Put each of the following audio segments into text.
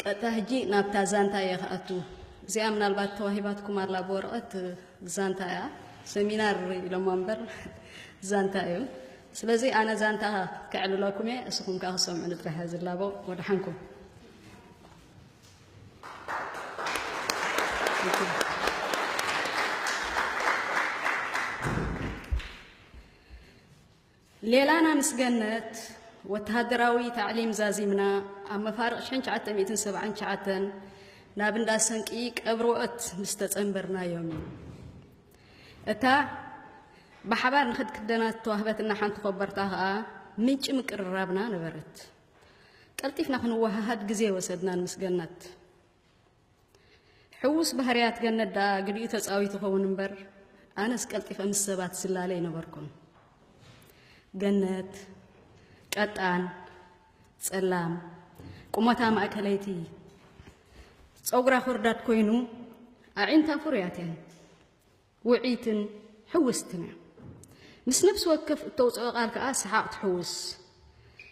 ቀጥታ ሕጂ ናብታ ዛንታ እየ ክኣቱ። እዚኣ ምናልባት ተዋሂባትኩም ኣላ ብወረቐት ዛንታ እያ ሰሚናር ኢሎማ እምበር ዛንታ እዩ። ስለዚ ኣነ ዛንታ ከዕልለኩም እየ፣ እስኹም ከዓ ክሰምዑ ንጥራሕ እየ ዝላቦ። ወደሓንኩም ሌላና ምስ ገነት ወተሃደራዊ ታዕሊም ዛዚምና ኣብ መፋርቕ ሽሕን ትሽዓተ ሚእትን ሰብዓን ትሽዓተን ናብ እንዳ ሰንቂ ቀብርወኦት ምስ ተጸንበርናዮም እዩ። እታ ብሓባር ንክድ ክደና ዝተዋህበትና ሓንቲ ኮበርታ ከኣ ምንጪ ምቅርራብና ነበረት። ቀልጢፍና ክንወሃሃድ ግዜ ወሰድናን ምስ ገነት። ሕዉስ ባህርያት ገነት ደኣ ግዲኡ ተጻዊቱ ኸውን እምበር ኣነስ ቀልጢፈ ምስ ሰባት ዝላለ ኣይነበርኩን። ገነት ቀጣን ጸላም ቁመታ ማእከለይቲ ጸጉራ ኮርዳድ ኮይኑ ኣዒንታ ፍሩያት እየን። ውዕይትን ሕውስትን እያ። ምስ ነፍሲ ወከፍ እተውጽኦ ቃል ከኣ ሰሓቕ ትሕውስ።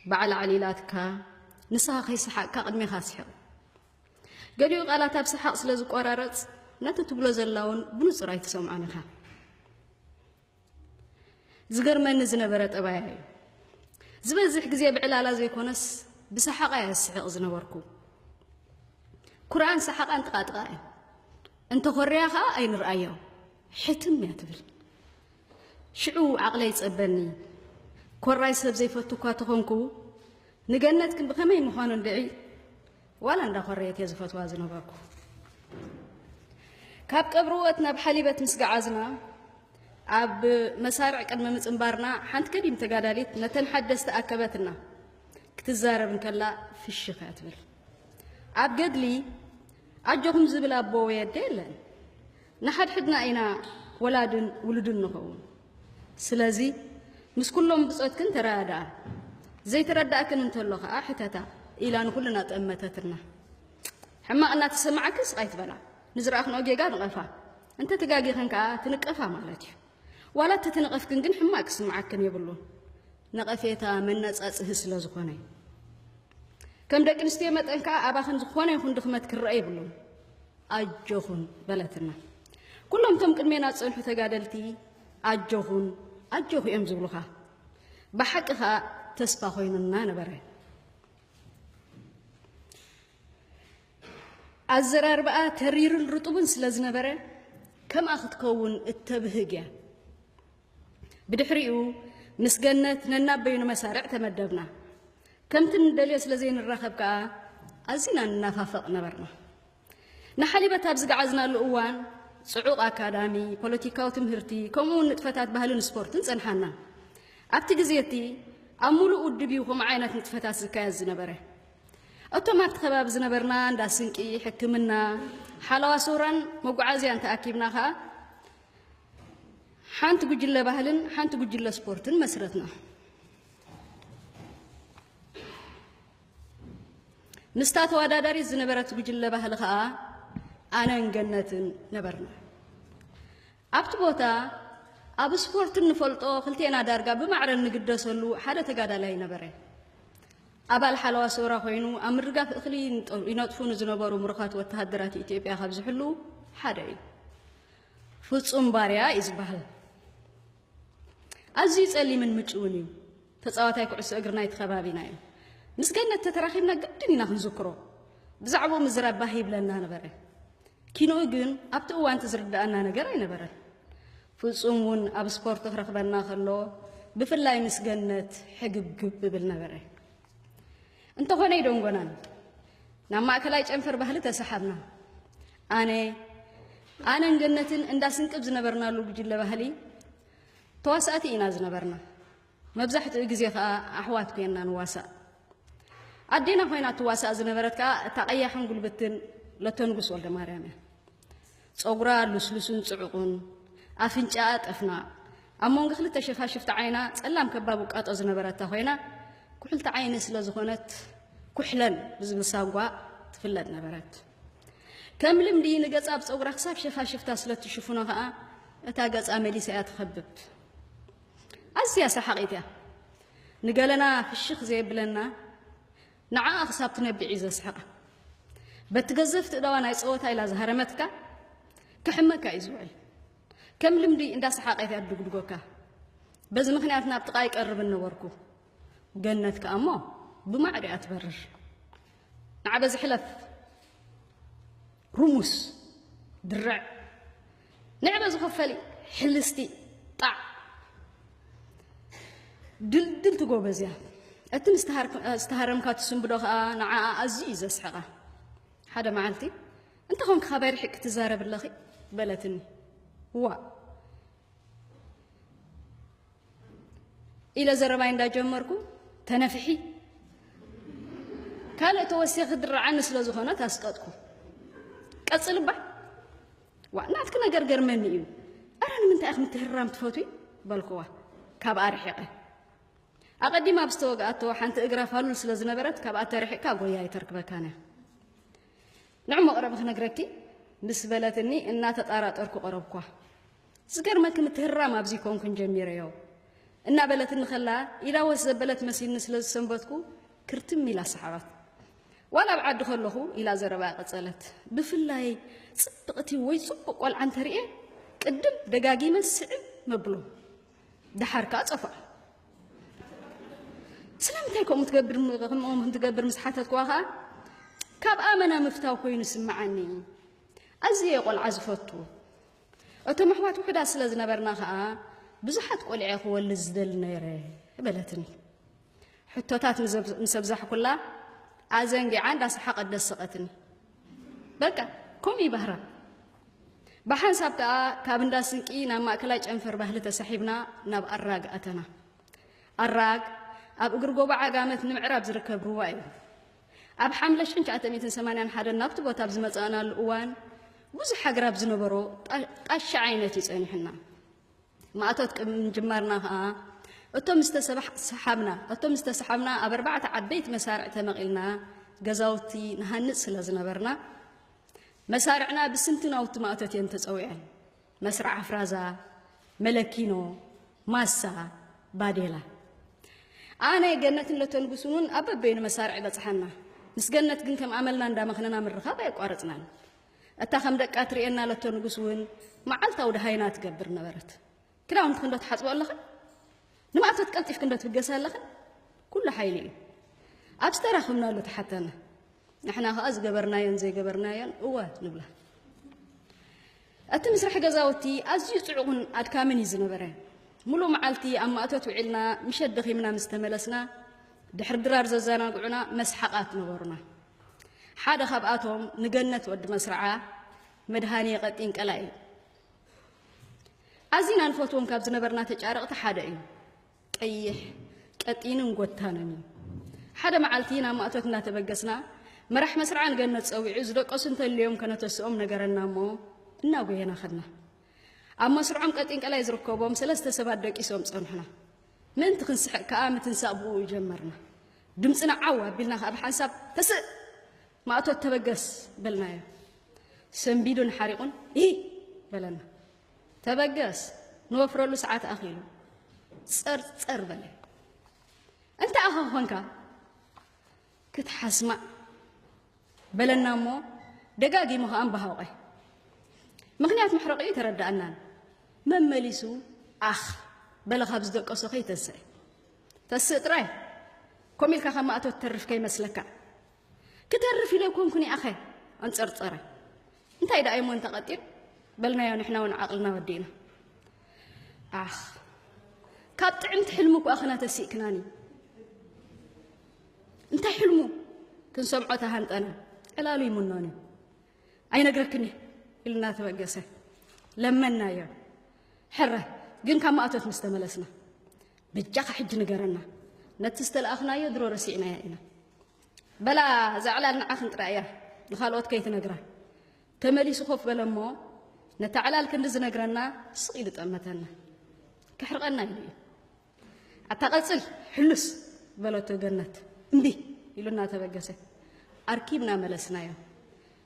በዓል ኣዕሊላትካ፣ ንስኻ ከይሰሓቕካ ቅድሜኻ ስሕቕ። ገሊኡ ቃላት ኣብ ሰሓቕ ስለ ዝቆራረጽ ነቲ ትብሎ ዘላ እውን ብንጹር ኣይትሰምዖን ኢኻ። ዝገርመኒ ዝነበረ ጠባያ እዩ። ዝበዝሕ ግዜ ብዕላላ ዘይኮነስ ብሰሓቓ እየ ዝስሕቕ ዝነበርኩ። ኩርዓን ሰሓቓን ጥቓጥቓ እየን። እንተኾርያ ከኣ ኣይንርኣዮ ሕትም እያ ትብል ሽዑ ዓቕለይ ጸበኒ ኮራይ ሰብ ዘይፈቱ እኳ ተኾንኩ ንገነት ግን ብኸመይ ምዃኑ እንድዒ ዋላ እንዳኾረየት እየ ዝፈትዋ ዝነበርኩ ካብ ቀብርወት ናብ ሓሊበት ምስ ገዓዝና ኣብ መሳርዕ ቅድሚ ምፅንባርና ሓንቲ ከዲም ተጋዳሊት ነተን ሓደስቲ ኣከበትና ክትዛረብ እንከላ ፍሽኽ እያ ትብል ኣብ ገድሊ ኣጆኹም ዝብል ኣቦ ወይ ኣደ የለን። ንሓድሕድና ኢና ወላድን ውሉድን ንኸውን። ስለዚ ምስ ኩሎም ብጾትክን ተረዳድኣ፣ ዘይተረዳእክን እንተሎ ከኣ ሕተታ ኢላ ንኹልና ጠመተትና። ሕማቕ እናተሰማዓክን ስቕ ኣይትበላ፣ ንዝረኣኽንኦ ጌጋ ንቐፋ፣ እንተ ተጋጊኽን ከኣ ትንቀፋ ማለት እዩ። ዋላ እተ ተነቐፍክን ግን ሕማቕ ክስምዓክን የብሉን፣ ነቐፌታ መነጻጽሂ ስለ ዝኾነ። ከም ደቂ ኣንስትዮ መጠን ከዓ ኣባኽን ዝኾነ ይኹን ድኽመት ክረአ የብሉን ኣጆኹን በለትና ኩሎም እቶም ቅድሜና ዝፀንሑ ተጋደልቲ ኣጆኹን ኣጆኹ እዮም ዝብሉኻ ብሓቂ ከዓ ተስፋ ኮይኑና ነበረ ኣዘራርባኣ ተሪርን ርጡብን ስለ ዝነበረ ከምኣ ክትከውን እተብህግ እያ ብድሕሪኡ ምስ ገነት ነናበይኑ መሳርዕ ተመደብና ከምቲ ንደልዮ ስለ ዘይንራኸብ ከኣ ኣዚና ንናፋፈቕ ነበርና ንሓሊበት ኣብ ዝገዓዝናሉ እዋን ጽዑቕ ኣካዳሚ ፖለቲካዊ ትምህርቲ ከምኡውን ንጥፈታት ባህልን ስፖርትን ጸንሓና ኣብቲ ግዜ እቲ ኣብ ሙሉእ ውድብ እዩ ከምኡ ዓይነት ንጥፈታት ዝካየድ ዝነበረ እቶም ኣብቲ ከባቢ ዝነበርና እንዳ ስንቂ ሕክምና ሓለዋ ሶራን መጓዓዝያን ተኣኪብና ከዓ ሓንቲ ጉጅለ ባህልን ሓንቲ ጉጅለ ስፖርትን መስረትና። ምስታ ተወዳዳሪት ዝነበረት ጉጅለ ባህሊ ከዓ ኣነን ገነትን ነበርና ኣብቲ ቦታ ኣብ ስፖርት እንፈልጦ ክልቴና ዳርጋ ብማዕረ እንግደሰሉ ሓደ ተጋዳላይ ነበረ ኣባል ሓለዋ ሰውራ ኮይኑ ኣብ ምርጋፍ እኽሊ ይነጥፉ ንዝነበሩ ምሩኻት ወተሃደራት ኢትዮጵያ ካብ ዝሕሉ ሓደ እዩ ፍጹም ባርያ እዩ ዝበሃል። ኣዝዩ ጸሊምን ምጭውን እዩ። ተጻዋታይ ኩዕሶ እግሪ ናይቲ ከባቢና እዩ። ምስ ገነት ተተራኺብና ግድን ኢና ክንዝክሮ። ብዛዕባኡ ምዝራብ ባህ ይብለና ነበረ። ኪንኡ ግን ኣብቲ እዋንቲ ዝርድኣና ነገር ኣይነበረን። ፍጹም እውን ኣብ ስፖርት ክረኽበና ከሎ ብፍላይ ምስ ገነት ሕግብግብ እብል ነበረ። እንተኾነ ይደንጎናን ናብ ማእከላይ ጨንፈር ባህሊ ተሰሓብና። ኣነ ኣነን ገነትን እንዳ ስንቅብ ዝነበርናሉ ጉጅለ ባህሊ ተዋሳእቲ ኢና ዝነበርና። መብዛሕትኡ ግዜ ከኣ ኣሕዋት ኮይንና ንዋሳእ። ኣዴና ኮይና ትዋሳእ ዝነበረት ከኣ እታ ቀያሕን ጉልብትን ለተንጉስ ወልደማርያም እያ። ጸጉራ ሉስሉስን ጽዑቑን፣ ኣፍንጫኣ ጠፍናቕ፣ ኣብ መንጎ ክልተ ሸፋሽፍቲ ዓይና ጸላም ከባብ ውቃጦ ዝነበረታ ኮይና፣ ኩሕልቲ ዓይኒ ስለ ዝኾነት ኩሕለን ብዝብል ሳጓ ትፍለጥ ነበረት። ከም ልምዲ ንገጻ ብጸጉራ ክሳብ ሸፋሽፍታ ስለ እትሽፍኖ ከኣ እታ ገጻ መሊሳ እያ ትኸብብ። ኣዝያ ሰሓቒት እያ። ንገለና ፍሽኽ ዘየብለና ንዓኣ ክሳብ ትነብዕ እዩ ዘስሕቓ። በቲ ገዘፍቲ እዳዋ ናይ ጸወታ ኢላ ዝሃረመትካ ክሕመካ እዩ ዝውዕል። ከም ልምዲ እንዳሰሓቐት እያ ትድጉድጎካ። በዚ ምክንያት ናብ ጥቓ ይቀርብን ነበርኩ። ገነት ከኣ እሞ ብማዕዶ እያ ትበርር። ንዓ በዚ ሕለፍ ሩሙስ ድርዕ ንዕበ ዝኸፈል ሕልስቲ ጣዕ ድልድልቲ ጎበዝ እያ እቲ ምስተሃረምካ ትስንብዶ ከዓ ንዓኣ ኣዝዩ እዩ ዘስሕቓ ሓደ መዓልቲ እንተኾንክ ካባይ ርሒቅ ክትዛረብ ኣለኺ በለትኒ ዋ ኢለ ዘረባይ እንዳጀመርኩ ተነፍሒ ካልእ ተወሲኺ ክድርዓኒ ስለ ዝኾነት ኣስቀጥኩ ቀጽልባ ዋ ናትኪ ነገር ገርመኒ እዩ ኣረ ንምንታይ ኢኹም ትህራም ትፈትዊ በልኩዋ ካብ ኣርሒቐ ኣቐዲማ ኣብ ዝተወግኣቶ ሓንቲ እግራ ፋሉል ስለ ዝነበረት ካብኣ ተርሒቕካ ጎያ ይተርክበካን እያ ንዑ መቕረቢ ክነግረኪ ምስ በለትኒ እናተጣራጠርኩ ቐረብኳ። ዝገርመኪ ምትህርራም ኣብዚ ኮንኩን ጀሚረዮ እናበለትኒ ከላ ኢዳ ወስ ዘበለት መሲልኒ ስለ ዝሰንበትኩ ክርትም ኢላ ሰሓቐት። ዋላ ኣብ ዓዲ ከለኹ ኢላ ዘረባኣ ቀጸለት። ብፍላይ ጽብቕቲ ወይ ጽቡቕ ቆልዓ እንተርእየ ቅድም ደጋጊመ ስዕብ መብሎ። ደሓር ከኣ ጸፍዖ። ስለምንታይ ከምኡ ትገብር ከምኦም ከም ትገብር ምስ ሓተትክዋ ከኣ ካብ ኣመና ምፍታው ኮይኑ ስምዓኒ ኣዝየ ቆልዓ ዝፈቱ እቶም ኣሕዋት ውሕዳት ስለ ዝነበርና ከኣ ብዙሓት ቆልዐ ክወልድ ዝደሊ ነይረ በለትኒ ሕቶታት ምስ ኣብዛሕኩላ ኣዘንጊዓ እንዳሰሓቐት ደሰቐትኒ በቃ ከምኡ እዩ ባህራ። ብሓንሳብ ከኣ ካብ እንዳ ስንቂ ናብ ማእከላይ ጨንፈር ባህሊ ተሳሒብና ናብ ኣራግ ኣተና። ኣራግ ኣብ እግሪ ጎቦ ዓጋመት ንምዕራብ ዝርከብ ሩባ እዩ። ኣብ ሓምለ ሽሕን ትሽዓተ ሚእትን ሰማንያን ሓደን ናብቲ ቦታ ኣብ ዝመጻእናሉ እዋን ብዙሕ ኣግራብ ዝነበሮ ጣሻ ዓይነት እዩ ጸኒሑና። ማእቶት ቅድሚ ምጅማርና ከኣ እቶም ዝተሰሓብና እቶም ዝተሰሓብና ኣብ ኣርባዕተ ዓበይቲ መሳርዕ ተመቒልና ገዛውቲ ንሃንጽ ስለ ዝነበርና መሳርዕና ብስምቲ ናውቲ ማእቶት እየን ተጸዊዐን መስርዕ ኣፍራዛ መለኪኖ ማሳ ባዴላ ኣነ ገነትን ለተንጉስን እውን ኣብ በበይኑ መሳርዕ በጽሓና ምስ ገነት ግን ከም ኣመልና እንዳመኽነና ምርኻብ ኣይቋረጽናን እታ ከም ደቃ ትርእየና ለቶ ንጉስ እውን መዓልታዊ ደሃይና ትገብር ነበረት። ክዳውንትክ እንዶ ትሓጽቦ ኣለኽን ንማእቶት ቀልጢፍክ እንዶ ትብገሰ ኣለኽን ኩሉ ሓይሊ እዩ። ኣብ ዝተራኽብናሉ ተሓተና ንሕና ከኣ ዝገበርናዮን ዘይገበርናዮን እወ ንብላ። እቲ ምስራሕ ገዛውቲ ኣዝዩ ጽዑቕን ኣድካምን እዩ ዝነበረ ሙሉእ መዓልቲ ኣብ ማእቶት ውዒልና ምሸት ደኺምና ምስ ተመለስና ድሕሪ ድራር ዘዘናግዑና መስሓቓት ነበሩና ሓደ ካብኣቶም ንገነት ወዲ መስርዓ መድሃኔ ቀጢን ቀላይ እዩ። ኣዚና ንፈትዎም ካብ ዝነበርና ተጫረቕቲ ሓደ እዩ። ቀይሕ ቀጢንን ጎታንን እዩ። ሓደ መዓልቲ ናብ ማእቶት እናተበገስና መራሕ መስርዓ ንገነት ፀዊዑ ዝደቀሱ እንተልዮም ከነተስኦም ነገረና እሞ እናጎየና ኸድና። ኣብ መስርዖም ቀጢን ቀላይ ዝርከቦም ሰለስተ ሰባት ደቂሶም ፀንሑና። ምእንቲ ክንስሕቕ ከኣ ምትንሳእ ብእኡ ጀመርና። ድምጽና ዓው ኣቢልና ከኣ ብሓንሳብ ተስእ! ማእቶት ተበገስ! በልናዮ። ሰንቢዱን ሓሪቑን እሂ! በለና። ተበገስ! ንወፍረሉ ሰዓት ኣኺሉ። ጸር ጸር በለ። እንታይ ኣኻ ኮንካ? ክትሓስማ በለና እሞ ደጋጊሙ ከኣ እምባሃውቐ ምኽንያት መሕረቒ ኣይተረድኣናን መመሊሱ ኣኽ በለ ካብ ዝደቀሶ ከይተንስእ ተስእ ጥራይ ከምኡ ኢልካ ካብ ማእቶ ትተርፍ ከይመስለካ ክተርፍ ኢለ ኮንኩን ይኣኸ ኣንጸርጸረ እንታይ ደኣ እሞ እንተቐጢን በልናዮ ንሕና እውን ዓቕልና ወዲእና ኣኽ ካብ ጥዕምቲ ሕልሚ እኳ ክና ተሲእክናኒ እንታይ ሕልሙ ክንሰምዖ ተሃንጠና ዕላሉ ይምኖን እዩ ኣይነግረክን እዩ ኢልና ተበገሰ ለመናዮ ሕረ ግን ካብ ማእቶት ምስ ተመለስና ብጃኻ ሕጂ ንገረና ነቲ ዝተለኣኽናዮ ድሮ ረሲዕናያ ኢና በላ እዛ ዕላል ንዓኽን ጥራይ እያ ንኻልኦት ከይትነግራ ተመሊሱ ኮፍ በለ እሞ ነታ ዕላል ክንዲ ዝነግረና ስቕ ኢሉ ጠመተና ክሕርቐና ኢሉ እዩ ኣታ ቀጽል ሕሉስ በለቶ ገነት እምቢ ኢሉ እናተበገሰ። ኣርኪብና መለስናዮ።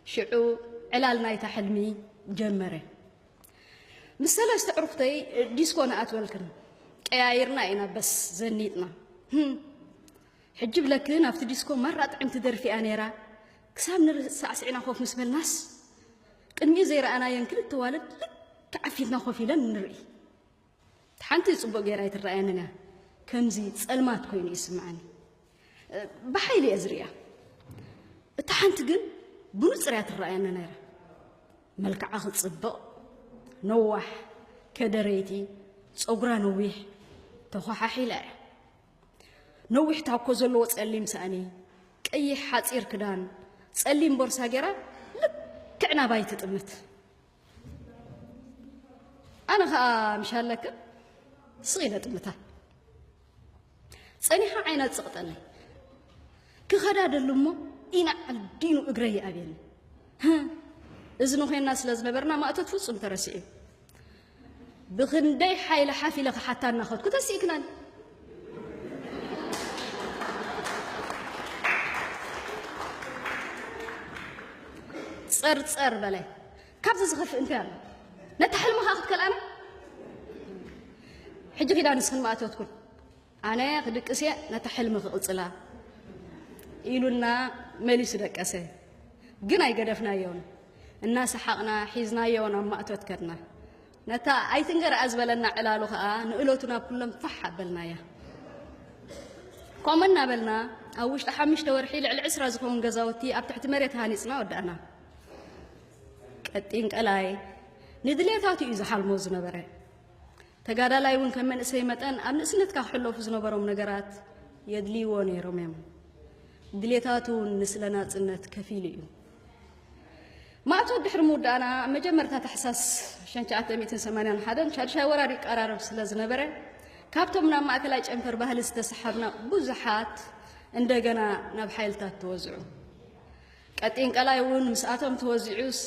ሽዑ ዕላል ናይታ ሕልሚ ጀመረ። ምስ ሰለስተ ዕሩኽተይ ዲስኮ ንኣትበልክን ቀያይርና ኢና በስ ዘኒጥና። ሕጂ ብለክን ኣብቲ ዲስኮ ማራ ጥዕምቲ ደርፊ እያ ነይራ። ክሳብ ንርህጽ ሳዕስዕና ኮፍ ምስ በልናስ ቅድሚኡ ዘይረኣናየን ክልተ ዋልድ ልክዕ ኣብ ፊትና ኮፍ ኢለን ንርኢ። ሓንቲ ጽቡቅ ጌራ ኣይትረኣየንን እያ ከምዚ ጸልማት ኮይኑ እዩ ዝስምዓኒ ብሓይሊ እየ ዝርእያ እታ ሓንቲ ግን ብንጹር እያ ትረኣየኒ ነይራ መልክዓ ክጽብቕ ነዋሕ ከደረይቲ ጸጉራ ነዊሕ ተኾሓሒላ እያ ነዊሕ ታኮ ዘለዎ ጸሊም ሳእኒ ቀይሕ ሓጺር ክዳን ጸሊም ቦርሳ ጌራ ልክዕ ናባይ ትጥምት ኣነ ከዓ ምሻለክን ስቕ ኢለ ጥምታ ፀኒሓ ዓይና ፅቕጠኒ ክኸዳ ደሉ እሞ ኢና ዓዲኑ እግረ ይኣብየኒ እዚ ንኮይና ስለ ዝነበርና ማእቶት ፍፁም ተረሲዑ ብክንደይ ሓይሊ ሓፍ ኢለ ክሓታ እናኸድኩ ተሲእክናኒ ጸርጸር በላይ ካብዚ ዝኸፍእ እንታይ ኣሎ ነቲ ሕልምኻ ክትከልኣና ሕጂ ኺዳ ንስኽን ማእተትኩን ኣነ ክድቅስ እየ ነቲ ሕልሚ ክቕጽላ ኢሉና መሊሱ ደቀሰ ግን ኣይገደፍናዮን እናሰሓቕና ሒዝናዮ ናብ ማእቶት ከድና ነታ ኣይትንገርኣ ዝበለና ዕላሉ ከኣ ንእለቱ ናብ ኩሎም ፋሕ ኣበልናያ። ከምኡ እናበልና ኣብ ውሽጢ ሓሙሽተ ወርሒ ልዕሊ ዕስራ ዝኸውን ገዛውቲ ኣብ ትሕቲ መሬት ሃኒጽና ወዳእና። ቀጢን ቀላይ ንድሌታቱ እዩ ዝሓልሞ ዝነበረ። ተጋዳላይ እውን ከም መንእሰይ መጠን ኣብ ንእስነትካ ክሕለፉ ዝነበሮም ነገራት የድልይዎ ነይሮም እዮም። ድሌታቱ እውን ንስለ ናጽነት ከፊሉ እዩ። ማእቶት ድሕሪ ምውዳእና ኣብ መጀመርታ ታሕሳስ 1981 ሻድሻይ ወራር ይቀራረብ ስለ ዝነበረ ካብቶም ናብ ማእከላይ ጨንፈር ባህሊ ዝተሰሓብና ብዙሓት እንደገና ናብ ሓይልታት ተወዝዑ። ቀጢን ቀላይ እውን ምስኣቶም ተወዚዑስ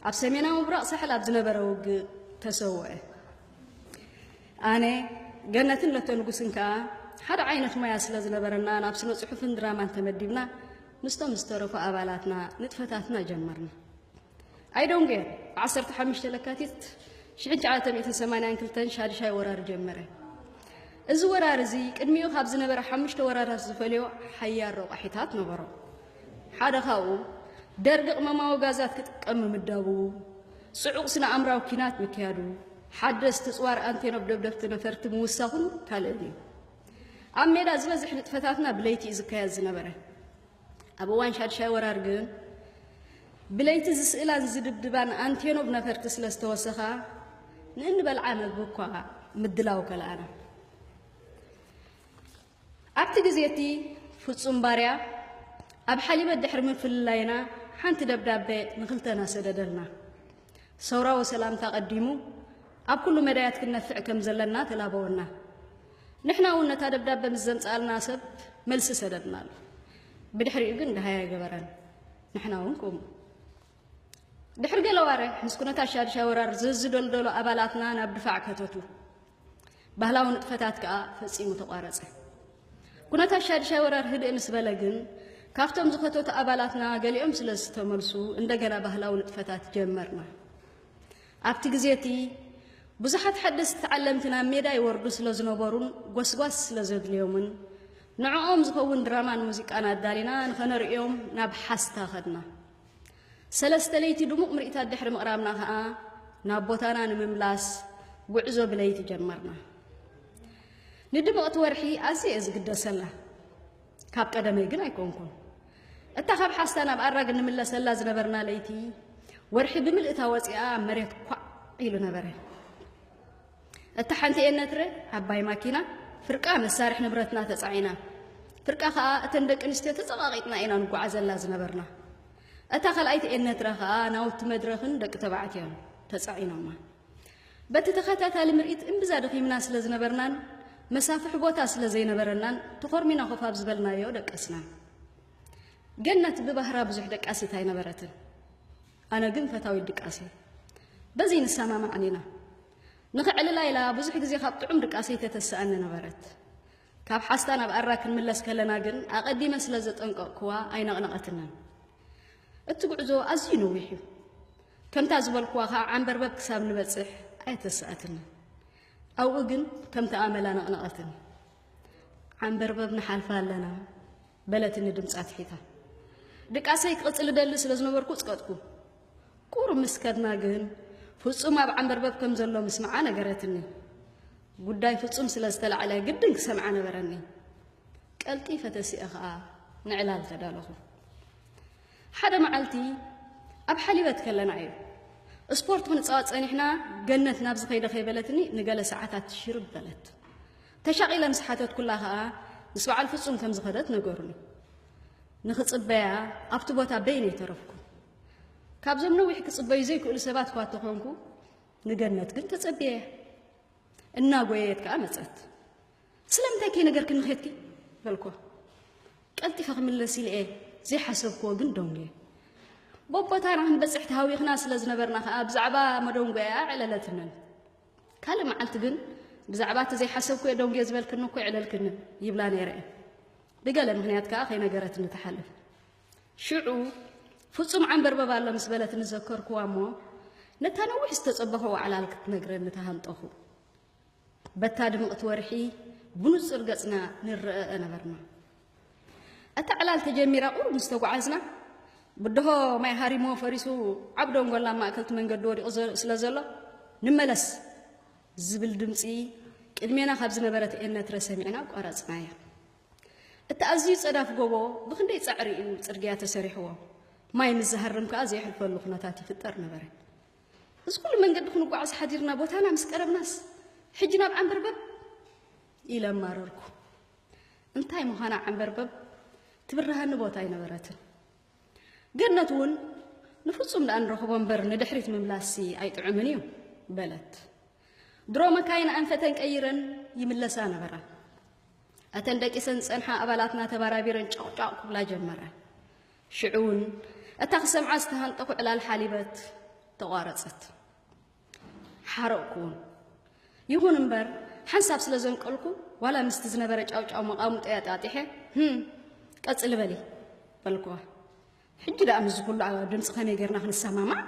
ኣብ ሰሜናዊ ምብራቕ ሳሕል ኣብ ዝነበረ ውግእ ተሰውአ። ኣነ ገነትን ለተንጉስን ከዓ ሓደ ዓይነት ሞያ ስለ ዝነበረና ናብ ስነ ጽሑፍን ድራማን ተመዲብና ምስቶም ዝተረፉ ኣባላትና ንጥፈታትና ጀመርና። ኣይ ዶንጌር ብ ዓሰርተ ሓሙሽተ ለካቲት ሽሕን ትሽዓተ ሚእትን ሰማንያን ክልተን ሻድሻይ ወራር ጀመረ። እዚ ወራር እዚ ቅድሚኡ ካብ ዝነበረ ሓሙሽተ ወራራት ዝፈልዮ ሓያል ረቋሒታት ነበሮ። ሓደ ካብኡ ደርጊ ቅመማዊ ጋዛት ክጥቀም ምምዳቡ፣ ጽዑቕ ስነ ኣምራዊ ኲናት ምክያዱ፣ ሓደስቲ ጽዋር ኣንቴኖብ ደብደብቲ ነፈርቲ ምውሳኹን ካልእን እዩ። ኣብ ሜዳ ዝበዝሕ ንጥፈታትና ብለይቲ እዩ ዝካየድ ዝነበረ። ኣብ እዋን ሻድሻይ ወራር ግን ብለይቲ ዝስእላን ዝድብድባን ኣንቴኖቭ ነፈርቲ ስለ ዝተወሰኻ ንእንበልዓ መግቢ እኳ ምድላው ከልኣና። ኣብቲ ግዜ እቲ ፍጹም ባርያ ኣብ ሓሊበት ድሕሪ ምፍልላይና ሓንቲ ደብዳቤ ንክልተና ሰደደልና። ሰውራዊ ሰላምታ ቀዲሙ ኣብ ኩሉ መዳያት ክንነፍዕ ከም ዘለና ተላበወና። ንሕና እውን ነታ ደብዳበ ምስ ዘምጽኣልና ሰብ መልሲ ሰደድናሉ። ብድሕሪኡ ግን ደሃይ ኣይገበረን። ንሕና እውን ከምኡ። ድሕሪ ገለ ኣዋርሕ ምስ ኩነታት ሻድሻይ ወራር ዝዝደልደሉ ኣባላትና ናብ ድፋዕ ከተቱ። ባህላዊ ንጥፈታት ከኣ ፈጺሙ ተቋረጸ። ኩነታት ሻድሻይ ወራር ህድእ ምስ በለ ግን ካብቶም ዝኸተቱ ኣባላትና ገሊኦም ስለ ዝተመልሱ እንደገና ባህላዊ ንጥፈታት ጀመርና። ኣብቲ ግዜ እቲ ብዙሓት ሓደስቲ ተዓለምቲ ናብ ሜዳ ይወርዱ ስለ ዝነበሩን ጎስጓስ ስለ ዘድልዮምን ንዕኦም ዝኸውን ድራማን ሙዚቃን ኣዳሊና ንኸነርእዮም ናብ ሓስታ ኸድና። ሰለስተ ለይቲ ድሙቕ ምርኢታት ድሕሪ ምቕራብና ከኣ ናብ ቦታና ንምምላስ ጉዕዞ ብለይቲ ጀመርና። ንድምቕቲ ወርሒ ኣዝየ እየ ዝግደሰላ፣ ካብ ቀደመይ ግን ኣይኮንኩን። እታ ካብ ሓስታ ናብ ኣራግ እንምለሰላ ዝነበርና ለይቲ፣ ወርሒ ብምልእታ ወጺኣ መሬት ኳዕ ኢሉ ነበረ። እታ ሓንቲ ኤነትረ ዓባይ ማኪና ፍርቃ መሳርሒ ንብረትና ተጻዒና ፍርቃ ከኣ እተን ደቂ ኣንስትዮ ተጸቓቒጥና ኢና ንጓዓዘላ ዝነበርና። እታ ካልኣይቲ ኤነትረ ከኣ ናውቲ መድረኽን ደቂ ተባዕትዮን ተጻዒኖማ። በቲ ተኸታታሊ ምርኢት እምብዛ ደኺምና ስለ ዝነበርናን መሳፍሒ ቦታ ስለ ዘይነበረናን ተኾርሚና ኮፍ ኣብ ዝበልናዮ ደቀስና። ገነት ብባህራ ብዙሕ ደቃሲት ኣይነበረትን። ኣነ ግን ፈታዊት ድቃስ እየ። በዚ ንሰማማዕ ኒና። ንኸዕልላ ኢላ ብዙሕ ግዜ ካብ ጥዑም ድቃሰይ ተተስኣኒ ነበረት። ካብ ሓስታ ናብ ኣራ ክንምለስ ከለና ግን ኣቐዲመ ስለ ዘጠንቀቕኩዋ ኣይነቕነቐትንን። እቲ ጉዕዞ ኣዝዩ ነዊሕ እዩ። ከምታ ዝበልኩዋ ከኣ ዓንበርበብ ክሳብ ንበጽሕ ኣየተስኣትንን። ኣብኡ ግን ከምቲ ኣመላ ነቕነቐትኒ። ዓንበርበብ ንሓልፋ ኣለና። በለትኒ ድምጻ ኣትሒታ። ድቃሰይ ክቕጽል እደሊ ስለ ዝነበርኩ ጽቀጥኩ። ቁሩብ ምስ ከድና ግን ፍጹም ኣብ ዓንበርበብ ከም ዘሎ ምስምዓ ነገረትኒ። ጉዳይ ፍጹም ስለ ዝተላዕለ ግድን ክሰምዓ ነበረኒ። ቀልጢፈ ተሲኤ ኸኣ ንዕላል ተዳለኹ። ሓደ መዓልቲ ኣብ ሓሊበት ከለና እዩ ስፖርት ክንጻወት ጸኒሕና ገነት ናብዚ ከይደ ከይበለትኒ ንገለ ሰዓታት ሽርብ በለት። ተሻቒለ ምስ ሓተትኩላ ከኣ ምስ በዓል ፍጹም ከም ዝኸደት ነገሩኒ። ንኽጽበያ ኣብቲ ቦታ በይነይ ተረፍኩ። ካብዞም ነዊሕ ክጽበዩ ዘይክእሉ ሰባት እኳ እተኾንኩ፣ ንገነት ግን ተጸብየያ። እናጎየየት ከኣ መጸት። ስለምንታይ ከይነገርክኒ ኬድኪ? በልኩዋ። ቀልጢፈ ክምለስ ኢለ እየ ዘይሓሰብክዎ ግን ደንጉየ። ቦቦታና ክንበጽሕ ተሃዊኽና ስለ ዝነበርና ከኣ ብዛዕባ መደንጎያ ኣዕለለትንን። ካልእ መዓልቲ ግን ብዛዕባ እቲ ዘይሓሰብኩዮ ደንጉየ ዝበልክኒ እኮ የዕለልክኒ ይብላ ነይረ እየን። ብገለ ምክንያት ከኣ ከይነገረትኒ ትሓልፍ። ሽዑ ፍጹም ዓንበርበብ ኣሎ ምስ በለትኒ ዘከርኩዋ እሞ ነታ ነዊሕ ዝተጸበኾ ዋዕላል ክትነግረኒ ተሃንጠኹ። በታ ድምቕቲ ወርሒ ብንጹር ገጽና ንረኣኣ ነበርና። እታ ዕላል ተጀሚራ ቁሩብ ምስ ተጓዓዝና ብድሆ ማይ ሃሪሞ ፈሪሱ ዓብ ደንጎላ ኣብ ማእከልቲ መንገዲ ወዲቑ ስለ ዘሎ ንመለስ ዝብል ድምጺ ቅድሜና ካብ ዝነበረት ኤነትረ ሰሚዕና ኣቋረጽናያ። እቲ ኣዝዩ ጸዳፍ ጎቦ ብክንደይ ጻዕሪ እዩ ጽርግያ ተሰሪሕዎ ማይ ምስ ዝሃርም ከኣ ዘየሕልፈሉ ኩነታት ይፍጠር ነበረ እዚ ኩሉ መንገዲ ክንጓዓዝ ሓዲርና ቦታና ምስ ቀረብናስ ሕጂ ናብ ዓንበርበብ ኢለ ኣማረርኩ እንታይ ምዃና ዓንበርበብ ትብርሃኒ ቦታ ኣይነበረትን። ገነት እውን ንፍጹም ደኣ ንረኽቦ እምበር ንድሕሪት ምምላሲ ኣይጥዑምን እዩ በለት። ድሮ መካይን ኣንፈተን ቀይረን ይምለሳ ነበራ። እተን ደቂሰን ዝጸንሓ ኣባላትና ተባራቢረን ጨቕጫቕ ክብላ ጀመረ። ሽዑ እውን እታ ክሰምዓ ዝተሃንጠኹ ዕላል ሓሊበት ተቋረጸት። ሓረቕኩውን ይኹን እምበር ሓንሳብ ስለ ዘንቀልኩ ዋላ ምስቲ ዝነበረ ጫውጫው መቓሙጠይ ኣጣጢሐ ህም ቀጽሊ በሊ በልኩዋ ሕጂ ደኣ ምስዚ ኩሉ ኣብ ድምፂ ከመይ ጌርና ክንሰማማዕ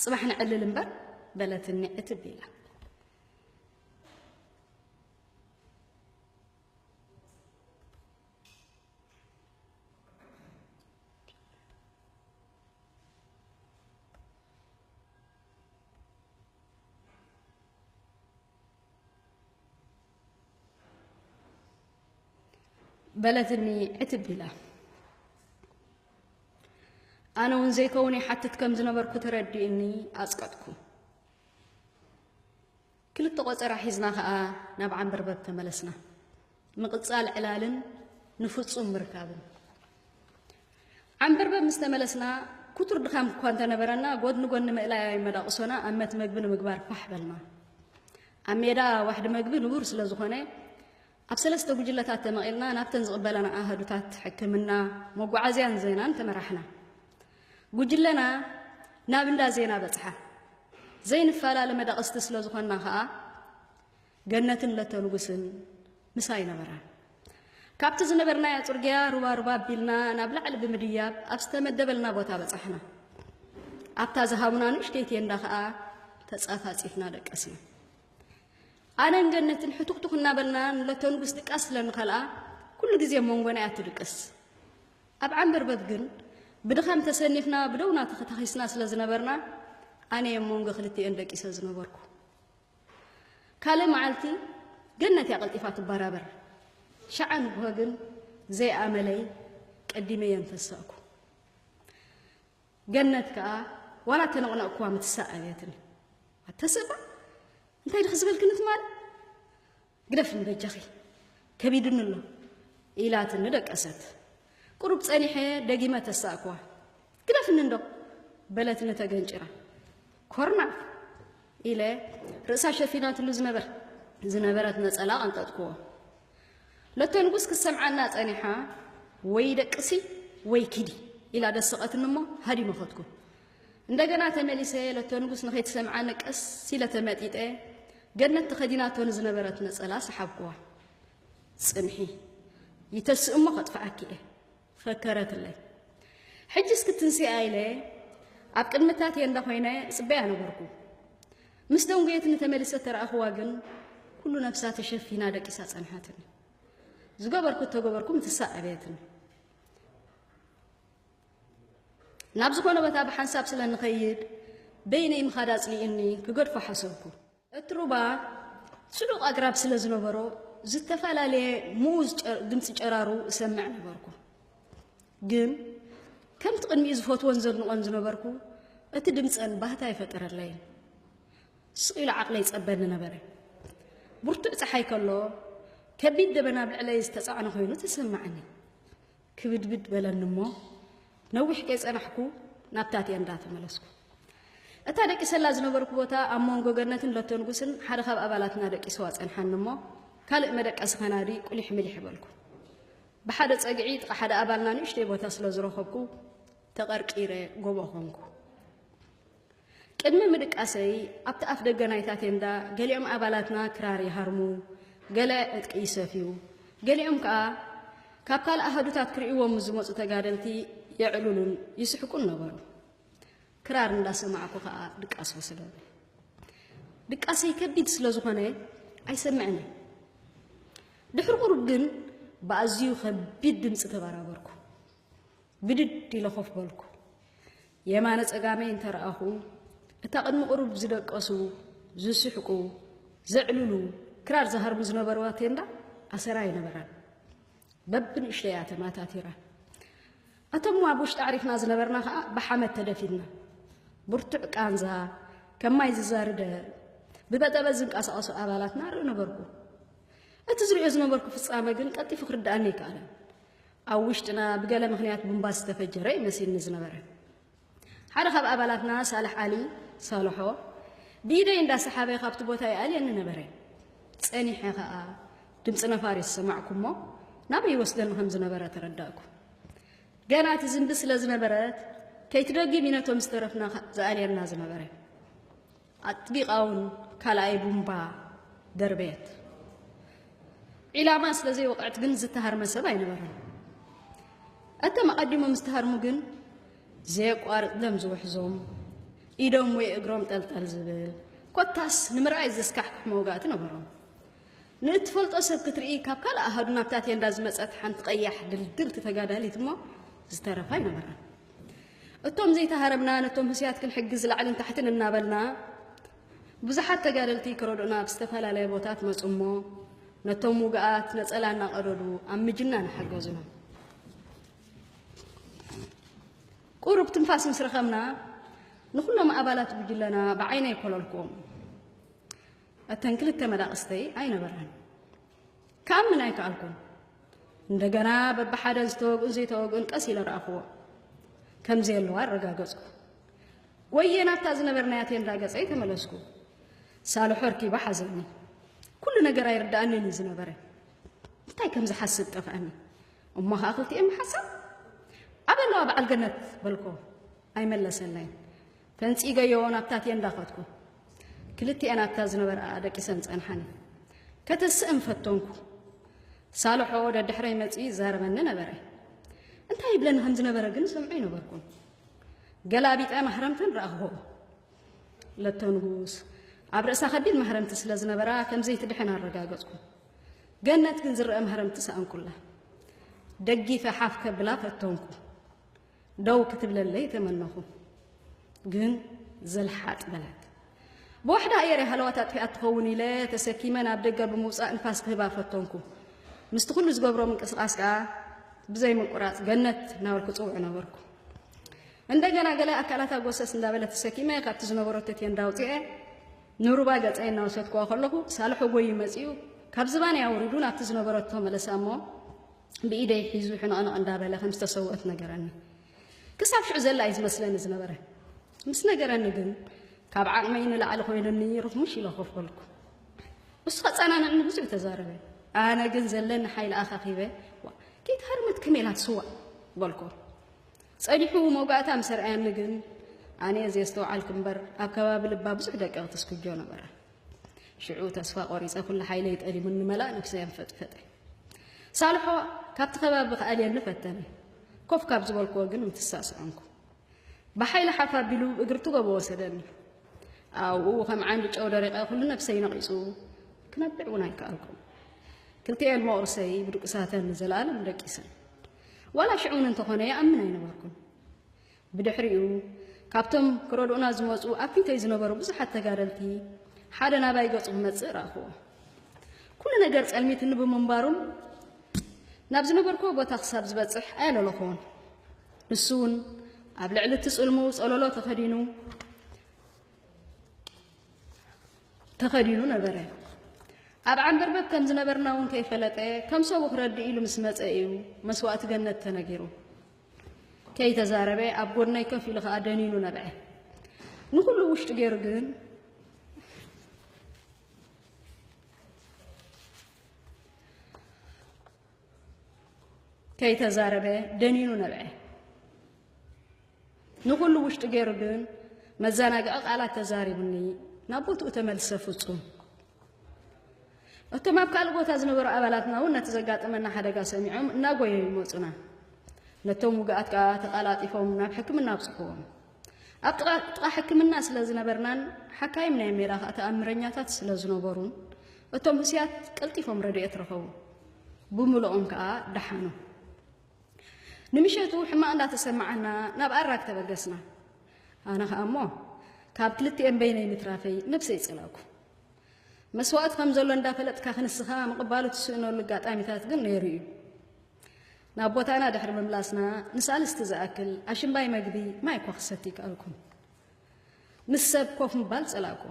ጽባሕ ንዕልል እምበር በለትኒ ዕትብ ኢላ በለትኒ ዕትብ ኢላ ኣነ እውን ዘይከውን ይሓትት ከም ዝነበርኩ ተረዲእኒ ኣፅቀጥኩ ክልተ ቆጸራ ሒዝና ከኣ ናብ ዓንበርበብ ተመለስና። ምቕጻል ዕላልን ንፍጹም ምርካብን። ዓንበርበብ ምስ ተመለስና ክቱር ድኻም እኳ እንተነበረና ጎድኒ ጎድኒ ምእላያዊ መዳቕሶና ኣብ መት መግቢ ንምግባር ፋሕ በልና። ኣብ ሜዳ ዋሕዲ መግቢ ንቡር ስለ ዝኾነ ኣብ ሰለስተ ጉጅለታት ተመቒልና ናብተን ዝቕበላና ኣሃዱታት ሕክምና፣ መጓዓዝያን ዜናን ተመራሕና። ጉጅለና ናብ እንዳ ዜና በጽሓ። ዘይንፈላለ መዳቕስቲ ስለ ዝኾንና ከኣ ገነትን ለተ ንጉስን ምሳይ ነበራ። ካብቲ ዝነበርናዮ ጽርግያ ሩባ ሩባ ኣቢልና ናብ ላዕሊ ብምድያብ ኣብ ዝተመደበልና ቦታ በጻሕና። ኣብታ ዝሃቡና ንእሽተይ ቴንዳ ከኣ ተጻፋጺፍና ደቀስና። ኣነን ገነትን ሕቱኽቱኽ እናበልና ንለተንጉስ ድቃስ ስለ ንኸልኣ ኩሉ ግዜ ኣብ መንጎና እያ ትድቅስ። ኣብ ዓምበርበብ ግን ብድኻም ተሰኒፍና ብደውና ተኸታኺስና ስለ ዝነበርና ኣነ እየ መንጎ ክልቲኤን ደቂሰ ዝነበርኩ። ካልእ መዓልቲ ገነት እያ ቀልጢፋ ትበራበር። ሸዓ ንግሆ ግን ዘይኣመለይ ቀዲመ እየ እንተሳእኩ። ገነት ከኣ ዋላ ተነቕነቕክዋ ምትሳእ ኣብያትኒ ኣተስእባ እንታይ ድኺ ዝበልክኒ ትማል ግደፍኒ በጃኺ ከቢድኒ ኣሎ ኢላትኒ ደቀሰት ቁሩብ ጸኒሐ ደጊመ ተሳእክዋ ግደፍኒ እንዶ በለትኒ ተገንጭራ ኮርና ኢለ ርእሳ ሸፊናትሉ ዝነበር ዝነበረት ነጸላ ቀንጠጥክዎ ለተንጉስ ክሰምዓና ጸኒሓ ወይ ደቅሲ ወይ ኪዲ ኢላ ደሰቐትኒ እሞ ሃዲመ ኸድኩ። እንደገና ተመሊሰ ለተንጉስ ንኸይትሰምዓኒ ቀስ ኢለ ተመጢጠ ገነት ተኸዲናቶ ንዝነበረት ነጸላ ሰሓብኩዋ። ጽንሒ ይተስእ እሞ ከጥፍኣኪ እየ ፈከረትለይ። ሕጅስ ክትንስኣ ኢለ ኣብ ቅድሚ እታ ቴንዳ ኮይነ እጽበያ ነበርኩ። ምስ ደንጎየትኒ ተመሊሰ ተረኣኹዋ ግን ኩሉ ነብሳ ተሸፊና ደቂሳ ጸንሓትኒ። ዝገበርኩ እተገበርኩ ምትሳእ ኣበየትኒ። ናብ ዝኾነ ቦታ ብሓንሳብ ስለ ንኸይድ በይነይ ምኻድ ኣጽሊኡኒ ክገድፎ ሓሰብኩ። እቲ ሩባ ጽዑቕ ኣግራብ ስለ ዝነበሮ ዝተፈላለየ ምኡዝ ድምፂ ጨራሩ እሰምዕ ነበርኩ። ግን ከምቲ ቅድሚኡ ዝፈትዎን ዘድንቖን ዝነበርኩ እቲ ድምፀን ባህታ ኣይፈጠረለይን። ስቕ ኢሉ ዓቕለይ ጸበኒ ነበረ። ብርቱዕ ፀሓይ ከሎ ከቢድ ደበና ኣብ ልዕለይ ዝተጻዕነ ኮይኑ ተሰማዕኒ። ክብድብድ በለኒ እሞ ነዊሕ ከይጸናሕኩ ናብታ ቴንዳ ተመለስኩ። እታ ደቂሰላ ዝነበርኩ ቦታ ኣብ መንጎ ገነትን ለቶ ንጉስን ሓደ ካብ ኣባላትና ደቂሰዋ ጸንሓኒ እሞ ካልእ መደቀሲ ከናዲ ቁሊሕ ምሊሕ በልኩ። ብሓደ ጸግዒ ጥቓ ሓደ ኣባልና ንእሽተይ ቦታ ስለ ዝረኸብኩ ተቐርቂረ ጎቦ ኾንኩ። ቅድሚ ምድቃሰይ፣ ኣብቲ ኣፍደገ ናይታ ቴንዳ ገሊኦም ኣባላትና ክራር ይሃርሙ፣ ገለ ዕጥቂ ይሰፍዩ፣ ገሊኦም ከኣ ካብ ካልእ ኣሃዱታት ክርእይዎም ምስ ዝመጹ ተጋደልቲ የዕልሉን ይስሕቁን ነበሩ። ክራር እንዳሰማዕኩ ከኣ ድቃስ ወሰደኒ። ድቃሰይ ከቢድ ስለ ዝኾነ ኣይሰምዕን እየ። ድሕሪ ቁሩብ ግን ብኣዝዩ ከቢድ ድምጺ ተበራበርኩ። ብድድ ኢለ ኮፍ በልኩ። የማነ ጸጋመይ እንተ ረኣኹ፣ እታ ቅድሚ ቁሩብ ዝደቀሱ፣ ዝስሕቁ፣ ዘዕልሉ፣ ክራር ዝሃርሙ ዝነበርዋ ቴንዳ ኣሰራ ኣይነበራን። በብንእሽተይ እያ ተማታቲራ። ኣቶም ኣብ ውሽጢ ኣዕሪፍና ዝነበርና ከኣ ብሓመድ ተደፊንና። ብርቱዕ ቃንዛ፣ ከም ማይ ዝዛርደ፣ ብበጠበጥ ዝንቀሳቐሱ ኣባላትና ርኢ ነበርኩ። እቲ ዝሪኦ ዝነበርኩ ፍጻመ ግን ቀልጢፉ ክርድኣኒ ኣይከኣለን። ኣብ ውሽጥና ብገለ ምኽንያት ቡምባ ዝተፈጀረ እዩ መሲልኒ ዝነበረ። ሓደ ካብ ኣባላትና ሳልሕ ዓሊ ሳልሖ ብኢደይ እንዳሰሓበ ካብቲ ቦታ ይኣልየኒ ነበረ። ጸኒሐ ከኣ ድምፂ ነፋሪት ሰማዕኩሞ ናበይ ይወስደኒ ከም ዝነበረ ተረዳእኩ። ገና እቲ ዝንቢ ስለ ዝነበረት ከይትደግም እዩ ነቶም ዝተረፍና ዝኣልየና ዝነበረ። ኣጥቢቓ እውን ካልኣይ ቡምባ ደርበየት። ዒላማ ስለ ዘይወቕዐት ግን ዝተሃርመ ሰብ ኣይነበረን። እቶም ኣቐዲሞም ዝተሃርሙ ግን ዘየቋርጥ ደም ዝውሕዞም፣ ኢዶም ወይ እግሮም ጠልጠል ዝብል ኮታስ ንምርኣይ ዘስካሕክሕ መውጋእቲ ነበሮም። ንእትፈልጦ ሰብ ክትርኢ ካብ ካልእ ኣሃዱ ናብታ ቴንዳ ዝመጸት ሓንቲ ቀያሕ ድልድልቲ ተጋዳሊት እሞ ዝተረፈ ኣይነበራን። እቶም ዘይተሃረምና ነቶም ህስያት ክንሕግዝ ላዕልን ታሕትን እናበልና ብዙሓት ተጋደልቲ ክረድኡና ኣብ ዝተፈላለየ ቦታት መጹ እሞ ነቶም ውግኣት ነጸላ እናቐደዱ ኣብ ምጅናን ሓገዙና። ቁሩብ ትንፋስ ምስ ረኸብና ንኹሎም ኣባላት ጉጅለና ብዓይነይ ኮለልክዎም። እተን ክልተ መዳቕስተይ ኣይነበራን። ክኣምን ኣይከኣልኩን። እንደገና በብሓደ ዝተወግኡን ዘይተወግኡን ቀስ ኢለ ረኣኹዎ። ከም ዘየለዋ ኣረጋገጽኩ። ጎየ ናብታ ዝነበርናያ ቴንዳ ገጸይ ተመለስኩ። ሳልሖ ኣርኪባ ሓዘኒ። ኩሉ ነገር ኣይርዳእንን እዩ ዝነበረ። እንታይ ከም ዝሓስብ ጠፍኣኒ። እሞ ከዓ ክልቲኤን ምሓሳብ ኣበለዋ በዓል ገነት በልኮ። ኣይመለሰለይን። ተንጺገዮ ናብታትየ እንዳኸድኩ ክልቲኤን ኣብታ ዝነበርኣ ደቂሰን ጸንሓኒ። ከተስእም ፈተንኩ። ሳልሖ ደድሕረይ መጺኡ ይዛረበኒ ነበረ። እንታይ ይብለኒ ከም ዝነበረ ግን ሰምዖ ኣይነበርኩን። ገላቢጠ ማህረምተን ረኣኹ። ለቶ ንጉስ ኣብ ርእሳ ከቢድ ማህረምቲ ስለ ዝነበራ ከም ዘይትድሕን ኣረጋገጽኩ። ገነት ግን ዝረአ ማህረምቲ ሰኣንኩላ። ደጊፈ ሓፍ ከብላ ፈተንኩ። ደው ክትብለለይ ተመነኹ ግን ዘልሓጥ በለት። ብዋሕዳ ኣየር ሃለዋት ኣጥፊኣ ትኸውን ኢለ ተሰኪመ ናብ ደገ ብምውፃእ ንፋስ ክህባ ፈተንኩ። ምስቲ ኩሉ ዝገብሮ ምንቅስቓስ ከዓ ብዘይ ምቁራፅ ገነት እናበልኩ ፅውዕ ነበርኩ። እንደገና ገለ ኣካላታ ጎሰስ እንዳበለ ተሰኪመ ካብቲ ዝነበረቶ ቴንዳ ውፅኤ ንሩባ ገፀይ እናወሰድኩዋ ከለኹ ሳልሖ ጎይ መፂኡ ካብ ዝባነይ ኣውሪዱ ናብቲ ዝነበረቶ መለሳ እሞ ብኢደይ ሒዙ ሕንቕንቕ እንዳበለ ከም ዝተሰውአት ነገረኒ። ክሳብ ሽዑ ዘላ እዩ ዝመስለኒ ዝነበረ። ምስ ነገረኒ ግን ካብ ዓቕመይ ንላዕሊ ኮይኑኒ ርኽሙሽ ኢለ ኮፍ በልኩ። እሱ ከጸናንዕኒ ብዙሕ ተዛረበ። ኣነ ግን ዘለኒ ሓይሊ ኣኻኺበ ከይተሃርመት ከመይ ኢላ ትስዋእ በልኩ። ጸኒሑ መውጋእታ ምስ ኣርኣየኒ ግን ኣነ ዘየስተውዓልኩ እምበር ኣብ ከባቢ ልባ ብዙሕ ደቀቕቲ ስኩጆ ነበረ። ሽዑ ተስፋ ቆሪፀ ኩሉ ሓይለይ ጠሊሙኒ መላእ ነብሰይ ኣንፈጥፈጠ ሳልሖ ካብቲ ከባቢ ክኣልየኒ ፈተነ ኮፍ ካብ ዝበልክዎ ግን ምፍሳስ ዖንኩ ብሓይሊ ሓፍ ኣቢሉ እግሪ ትጎቦ ወሰደኒ ኣብኡ ከም ዓንዲ ጨው ደሪቐ ኩሉ ነብሰይ ነቒጹ ክነብዕ እውን ኣይከኣልኩም ክልቲኤን መቑርሰይ ብድቁሳተን ንዘለኣለም ደቂሰን ዋላ ሽዑ እውን እንተኾነ ይኣምን ኣይነበርኩን ብድሕሪኡ ካብቶም ክረድኡና ዝመጹ ኣብ ፊተይ ዝነበሩ ብዙሓት ተጋደልቲ ሓደ ናባይ ገጹ ክመጽእ ረኣኹዎ። ኩሉ ነገር ጸልሚትኒ ብምንባሩን ናብ ዝነበርኩዎ ቦታ ክሳብ ዝበጽሕ ኣየለለኹዎን። ንሱ እውን ኣብ ልዕሊ እቲ ጽልሙ ጸለሎ ተኸዲኑ ተኸዲኑ ነበረ። ኣብ ዓንበርበብ ከም ዝነበርና እውን ከይፈለጠ ከም ሰቡ ክረድእ ኢሉ ምስ መጸ እዩ መስዋእቲ ገነት ተነጊሩ። ከይተዛረበ ኣብ ጎድነይ ከፍ ኢሉ ከኣ ደኒኑ ነብዐ። ንኹሉ ውሽጢ ገይሩ ግን ከይተዛረበ ደኒኑ ነብዐ። ንኹሉ ውሽጢ ገይሩ ግን መዘናግዒ ቃላት ተዛሪቡኒ ናብ ቦትኡ ተመልሰ ፍጹም እቶም ኣብ ካልእ ቦታ ዝነበሩ ኣባላትና እውን ነቲ ዘጋጠመና ሓደጋ ሰሚዖም እናጎየዩ ይመፁና ነቶም ውግኣት ከዓ ተቃላጢፎም ናብ ሕክምና ኣብፅሕዎም ኣብ ጥቃ ሕክምና ስለ ዝነበርናን ሓካይም ናይ ሜዳ ከዓ ተኣምረኛታት ስለ ዝነበሩን እቶም ህስያት ቀልጢፎም ረድኤት ረኸቡ ብምልኦም ከዓ ደሓኑ ንምሸቱ ሕማቕ እንዳተሰማዓና ናብ ኣራግ ተበገስና። ኣነ ከኣ እሞ ካብ ክልቲኤን በይነይ ምትራፈይ ነብሰይ ጸላእኩ። መስዋእቲ ከም ዘሎ እንዳፈለጥካ ክንስኻ ምቕባሉ ትስእነሉ ኣጋጣሚታት ግን ነይሩ እዩ። ናብ ቦታና ድሕሪ ምምላስና ንሳልስቲ ዝኣክል ኣሽምባይ መግቢ ማይ እኳ ክሰቲ ይከኣልኩን ምስ ሰብ ኮፍ ምባል ጸላእኩ።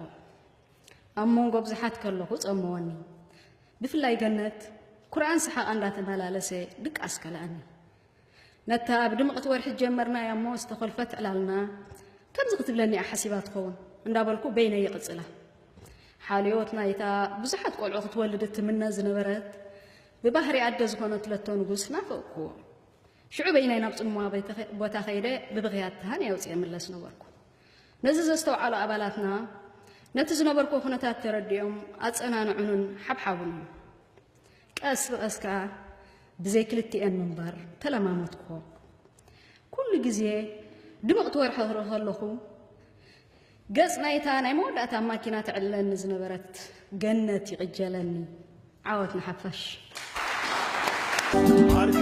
ኣብ መንጎ ብዙሓት ከለኹ ጸመወኒ ብፍላይ ገነት ኩርዓን ሰሓቓ እንዳተመላለሰ ድቃስ ከልኣኒ ነታ ኣብ ድምቕቲ ወርሒ ጀመርናያ እሞ ዝተኾልፈት ዕላልና ከምዚ ክትብለኒ እያ ሓሲባ ትኸውን እንዳበልኩ በይነ ይቕጽላ ሓልዮት ናይታ ብዙሓት ቆልዑ ክትወልድ እትምነ ዝነበረት ብባህሪ ኣደ ዝኾነት ለቶ ንጉስ ናፈቕኩዎ ሽዑ በይናይ ናብ ጽምዋ ቦታ ከይደ ብብኽያት ተሃን የውፅየ ምለስ ነበርኩ ነዚ ዘስተውዓሉ ኣባላትና ነቲ ዝነበርኩዎ ኩነታት ተረዲኦም ኣጸናንዑንን ሓብሓቡንን። ቀስ ብቐስ ከኣ ብዘይ ክልቲኤን ምንባር ተለማመድኩዎ። ኩሉ ግዜ ድምቕቲ ወርሒ ክርኢ ከለኹ ገጽ ናይታ ናይ መወዳእታ ኣብ ማኪና ትዕልለኒ ዝነበረት ገነት ይቕጀለኒ። ዓወት ንሓፋሽ!